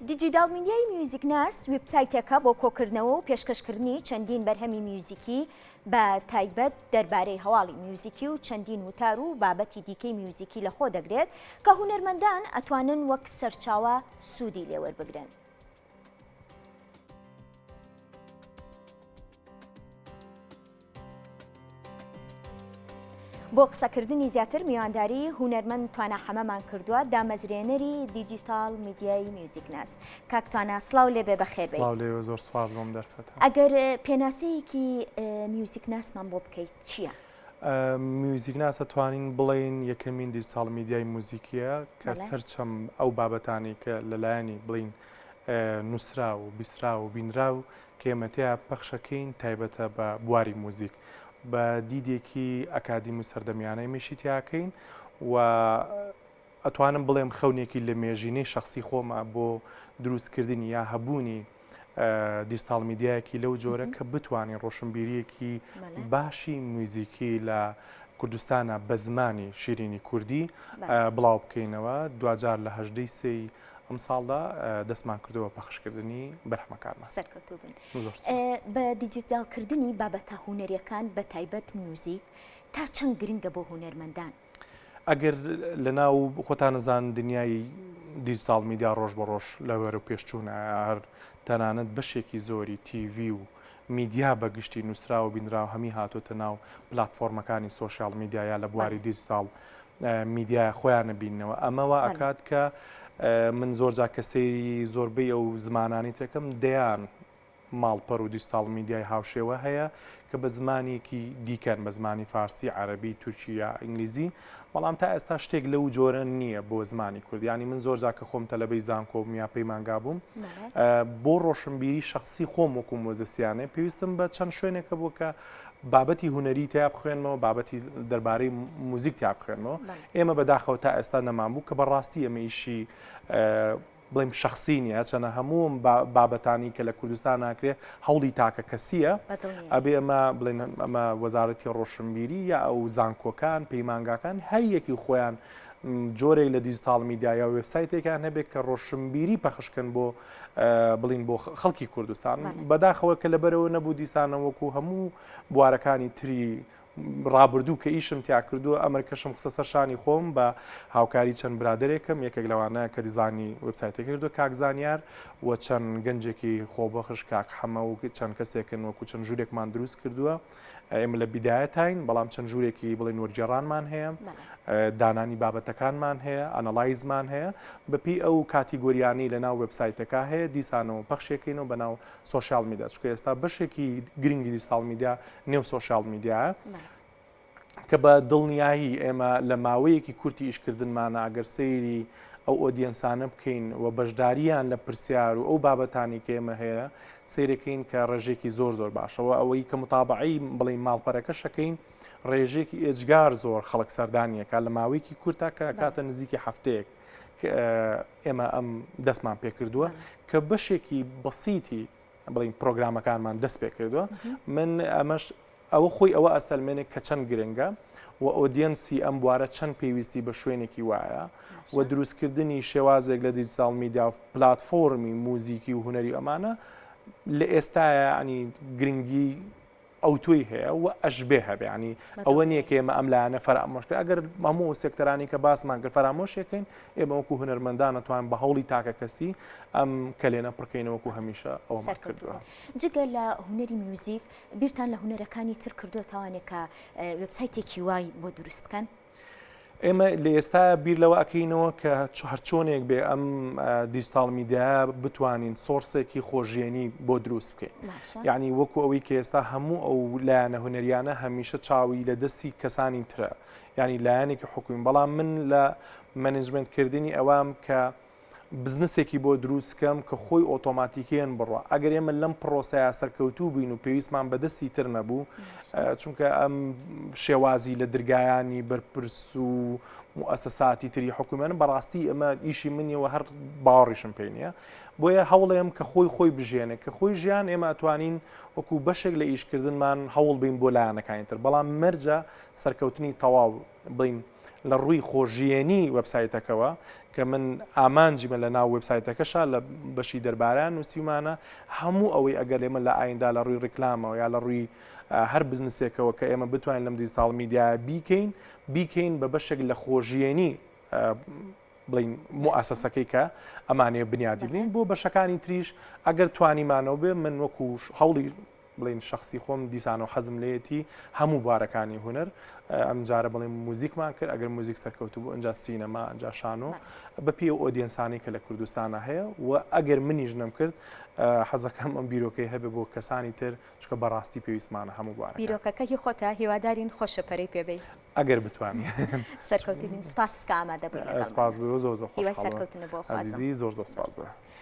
دیجیتاڵ میدیای میوزیکناس ویبسایتێکە بۆ کۆکردنەوە و پێشکەشکردنی چەندین بەرهەمی میوزیکی بە تایبەت دەربارەی هەواڵی میوزیکی و چەندین وتار و بابەتی دیکەی میوزیکی لەخۆ دەگرێت کە هونەرمەندان ئەتوانن وەک سەرچاوە سوودی لێوەربگرن. بۆ قسەکردنی زیاتر میوانداری هوەرمەند توانە حەمەمان کردووە دامەزرێنەری دیجیتال میدیایی میوزیکناس کاکتوانە سلااو لێ بێ بەخێ زۆر سپاس بۆم دەرفەت ئەگەر پێناسەیەکی میوزیکناسمان بۆ بکەیت چییە؟ میوزیک ناسە توانین بڵین یەکەمین دیجیتال میدیای موزیکیە کە سەرچەم ئەو بابەتانی کە لەلایەنی بڵین نووسرا و بیسرا و بینرا و کە ئێمە تێیا پەخشەکەین تایبەتە بە بواری موزیک بە دیدێکی ئەکادیم و سەردەمیانە میشی تیاکەین و ئەتوانم بڵێم خەونێکی لە مێژینەی شخصی خۆمە بۆ دروستکردنی یا هەبوونی دیستاڵ میدیایەکی لەو جۆرە کە بتوانین ڕۆشنبیریەکی باشی موزیکی لە کوردستانە بە زمانی شیرینی کوردی بڵاو بکەینەوە دوجار لە هەژدەی سی ئەمساڵدا دەستمان کردووە بە پەخشکردنی بەرهەمەکانمان. سەرکەوتوو بن. زۆر سوپاس. بە دیجیتاڵکردنی بابەتە هونەرییەکان بە تایبەت میوزیک تا چەند گرنگە بۆ هونەرمەندان؟ ئەگەر لەناو خۆتان نەزان دنیای دیجیتاڵ میدیا ڕۆژ بە ڕۆژ لە بەرەو پێشچوونە، هەر تەنانەت بەشێکی زۆری تی ڤی و میدیا بە گشتی نووسراو و بینراو هەمی هاتۆتە ناو پلاتفۆرمەکانی سۆشیاڵ میدیا یا لە بواری دیجیتاڵ میدیای خۆیان بینەوە ئەمە وا ئەکات کە من زۆر جا کە سەیری زۆربەی ئەو زمانانی تێکم دەیان ماڵپەر و دیجیتاڵ میدیای هاوشێوە هەیە کە بە زمانێکی دیکەن بە زمانی فارسی عەربی تورکیا ئینگلیزی بەڵام تا ئێستا شتێک لەو جۆرە نییە بۆ زمانی کورد یانی من زۆر جا کە خۆم تەلەبەی زانکۆ بووم یا پەیمانگا بووم بۆ ڕۆشنبیری شخصی خۆم وەکو مۆزەسیانێ پێویستم بە چەند شوێنێکە بوو کە بابەتی هوەری تیا بخوێنمەوە بابەتی دەربارەی موزیک تیا بخوێنمەوە ئێمە بەداخەوە تا ئێستا نەمان بوو کە بەڕاستی ئەمە ئیشی بڵێم شەخسی نیە هەرچەنە هەمووم بابەتانی کە لە کوردستان ناکرێ هەوڵی تاکە کەسیە ئەبێ ئەمە بڵێن ئەمە وەزارەتی ڕۆشنبیری یا ئەو زانکۆکان پەیمانگاکان هەریەکی خۆیان جۆرێک لە دیجیتال میدیا یا وبسایتێکان هەبێت کە ڕۆشنبیری پەخشکن بۆ بڵین بۆ خەڵکی کوردستان بەداخەوە کە لەبەرەوە نەبوو دیسانەوەکو هەموو بوارەکانی تری ڕابردوو کە ئیشم تیا کردووە ئەمرکەشم خستە سەر شانی خۆم بە هاوکاری چەند برادێکم یەکێک لەوانە کە دیزانی وبسایتێک کردو کاک زانیار و چەند گەنجێکی خۆبەخش کاک حەمە و چەند کەسێکن وەکو چەند ژوورێکمان دروست کردووە ئێمە لە بیدایەتین بەڵام چەند ژوورێکی بڵێ نۆرگێڕانمان هەیە دانانی بابەتەکانمان هەیە ئەنەلایزمان هەیە بەپی ئەو کاتیگۆریانی لە ناو وبسایتەکە هەیە دیسانەوە پەخشێکین و بەناو سۆشیال میدیا چکە ئێستا بەشێکی گرنگی دیستاڵ میدیا نێو سۆشیال میدیایە کە بە دڵنیایی ئێمە لە ماوەیەکی کورتی ئیشکردنمانە ئەگەر سەیری ئەو ئۆدیەنسانە بکەین و بەشداریان لە پرسیار و ئەو بابەتانی کە ئێمە هەیە سیرەکەین کە ڕێژێکی زۆر زۆر باشەوە ئەوەی کە متابعی بڵێ ماڵپەرەکە شەکەین ڕێژێکی ئێجگار زۆر خەڵک سەردانیەکە لە ماوەیەکی کورتاکە کاتە نزیکی هەفتەیەک ئێمە ئەم دەستمان پێکردووە کە بەشێکی بەسیتی بڵین پرۆگرامەکانمان دەست پێ کردووە من ئەمەش ئەوە خۆی ئەوە ئەسەلمێنێک کە چەند گرنگە و ئۆدیەنسی ئەم بوارە چەند پێویستی بە شوێنێکی وایە و دروستکردنی شێوازێک لە دیجیتال میدیا و پلتفۆرمی موزیکی و هوەری ئەمانە لە ئێستاە ئەنی گرنگی ئەوتۆی هەیە و ئەشبێ هەبێ ینی ئەوە نییە کە ئێمە ئەم لایەنە فەرامۆشکە ئەگەر مەموو و سێکتەرانی کە باسمان کرد فەرامۆشێکین ئێمە وەکو هونەرمەندانە توان بە هەوڵی تاکە کەسی ئەم کەلێنە پڕکەینەوەکو هەمیشە ئەو سەرکردووە جگە لە هونەری میوزیک بیرتان لە هونەرەکانی تر کردووە تاوانێکە وبسایتێکی وای بۆ دروست بکەن ئێمە لە ئێستا بیر لەوە ئەکەینەوە کە هەرچۆنێک بێ ئەم دیجیتال میدیا بتوانین سۆرسێکی خۆژێنی بۆ دروست بکەین یعنی وەکو ئەوەی کە ئێستا هەموو ئەو لایەنە هوەریانە هەمیشە چاوی لە دەستی کەسانی ترە ینی لایەنێکی حکوین بەڵام من لە منجمنتکردنی ئەوام کە بزنسێکی بۆ دروست کەم کە خۆی ئۆتۆماتیکیەن بڕە ئەگەر ئێمە لەم پرۆسەیە سەرکەوتوو بین و پێویستمان بەدەستی تر نەبوو چونکە ئەم شێوازی لە درگایانی بەرپرس و موسەساتی تری حکوومێنن بەڕاستی ئەمە ئیشی منیەوە هەر باوەڕیشم پێ نیە بۆیە هەوڵێم کە خۆی خۆی بژێنێ کە خۆی ژیان ئێمە ئەتوانین وەکو بەشێک لە ئیشکردنمان هەوڵ بین بۆ لایەنەکانی تر بەڵام مەرجە سەرکەوتنی تەواو بڵێین لە ڕووی خۆژیێنی وەبسایتەکەوە کە من ئامانجیمە لە ناو وبسایتەکەشا لە بەشی دەرباران نووسیمانە هەموو ئەوەی ئەگەر ئێمە لە ئایندا لە ڕووی ڕیکلامەوە یا لە ڕووی هەر بزنسێکەوە کە ئێمە بتوانین لەم دیجیتال میدیا بیکەین بیکەین بە بەشێک لە خۆژیێنی بڵین موئسەسەکەی کە ئەمانەیە بنیادی بنین بۆ بەشەکانی تریش ئەگەر توانیمانەوە بێ من وەکوش هەوڵی بڵێین شەخسی خۆم دیسان و حەزم لێیەتی هەموو بوارەکانی هونەر ئەم جارە بڵێن موزیکمان کرد ئەگەر موزیک سەرکەوتو بۆ ئەجا سینەما ئەجا شانۆ بە پێ ئۆدیەنسانی کە لە کوردستانە هەیە و ئەگەر منیش نەم کرد حەزەکەم ئەم بیرۆکەی هەبێ بۆ کەسانی تر چکە بەڕاستی پێویستمانە هەموو بوارە بیرۆکەکەی خۆتا هیوادارین خۆشە پەرەی پێبی ئەگەر بتوان سەرکەوتی سپاس کامە دەبێت سپاس بۆ زۆر زۆر سەرکەوتنە بۆ زۆر زۆر سپاس.